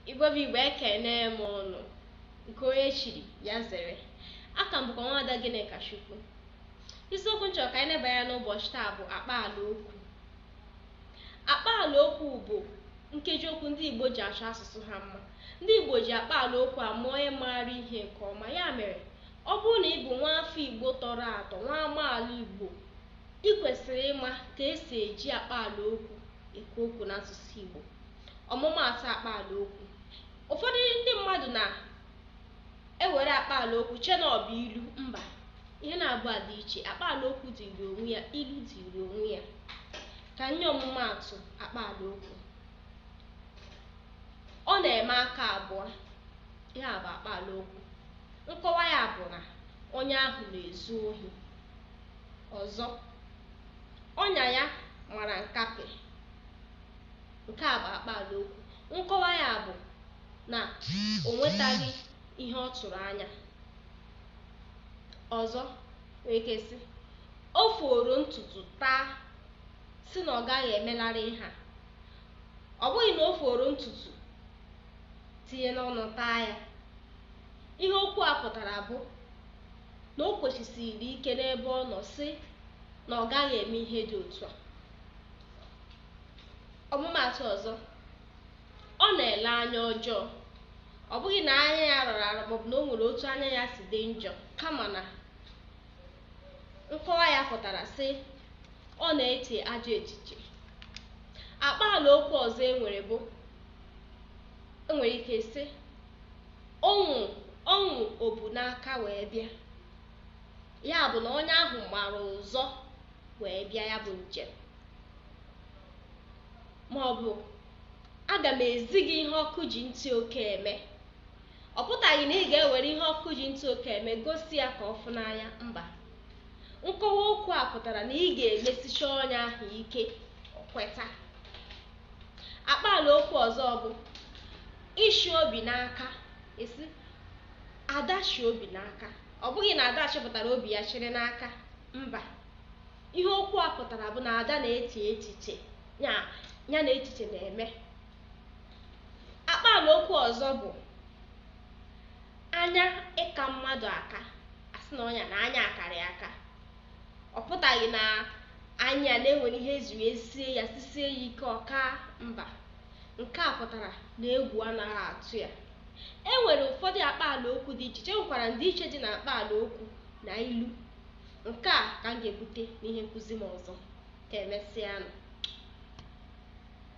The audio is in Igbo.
Igbo bụ Igbo ekene m ụnụ nke onye chiri ya zere aka m bụkwa nwaada Gịnịkachukwu isiokwu m chọ ka anyị neba anya n'ụbọchị taa bụ akpaala okwu akpaala okwu bụ nkeji okwu ndị Igbo ji achọ asụsụ ha mma ndị Igbo ji akpaala okwu ama onye maara ihe nke ọma ya mere ọ bụrụ na ị bụ nwa afọ Igbo tọrọ atọ nwa amaala Igbo ị kwesịrị ịma ka esi eji akpaala okwu ekwu okwu n'asụsụ Igbo ọmụmaatụ akpaala okwu ụfọdụ ndị mmadụ na-ewere akpaala okwu chee na ọ bụ ilu mba ihe naabọ a dị iche akpaala okwu dịrị onwe ya ilu dịrị onwe ya ka m nye ọmụmaatụ akpaala okwu ọ na-eme aka abụọ ihe a bụ akpaala okwu nkọwa ya bụ na onye ahụ na-ezu ohi ọzọ ọnya ya mara nkapị Nke a bụ akpaala okwu. Nkọwa ya bụ na o nwetaghị ihe ọ tụrụ anya. Ọzọ nwere ike sị o foro ntutu taa sị na ọ gaghị emelarị ihe a. Ọ bụghị na o foro ntutu tinye n'ọnụ taa ya. Ihe okwu a pụtara bụ na o kwesisiri ike n'ebe ọ nọ sị na ọ gaghị eme ihe dị otu a. ọmụmaatụ ọzọ ọ na-ele anya ọjọọ ọ bụghị na anya ya rọrọ arọ maọbụ na o nwere otu anya ya si dị njọ kama na nkọwa ya pụtara sị ọ na-eche ajọ echiche akpaala okwu ọzọ enwere bụ enwere ike sị ọnwụ ọnwụ o bu n'aka wee bịa ya bụ na onye ahụ gbara ụzọ wee bịa ya bụ njem ma ọ bụ aga m ezi gị ihe ọkụ ji ntị oke eme ọ pụtaghị na ị ga-ewere ihe ọkụ ji ntị oke eme gosi ya ka ọ fụ n'anya mba nkọwa okwu a pụtara na ị ga-emesicha onye ahụ ike o kweta akpaala okwu ọzọ bụ ịchị obi n'aka a sị Ada chị obi n'aka ọ bụghị na Ada chịpụtara obi ya chịrị n'aka mba ihe okwu a pụtara bụ na Ada na-eche echiche ya na echiche na-eme akpaala okwu ọzọ bụ anya ịka mmadụ aka a sị na onye a na anya akarị aka ọ pụtaghị na anya na e nwere ihe ezuru esie ya sisie ya ike ọ kaa mba nke a pụtara na egwu anaghị atụ ya e nwere ụfọdụ akpaala okwu dị iche iche e nwekwara ndịiche dị na akpaala okwu na ilu nke a ka m ga-ebute n'ihe nkụzi m ọzọ ka emesịanụ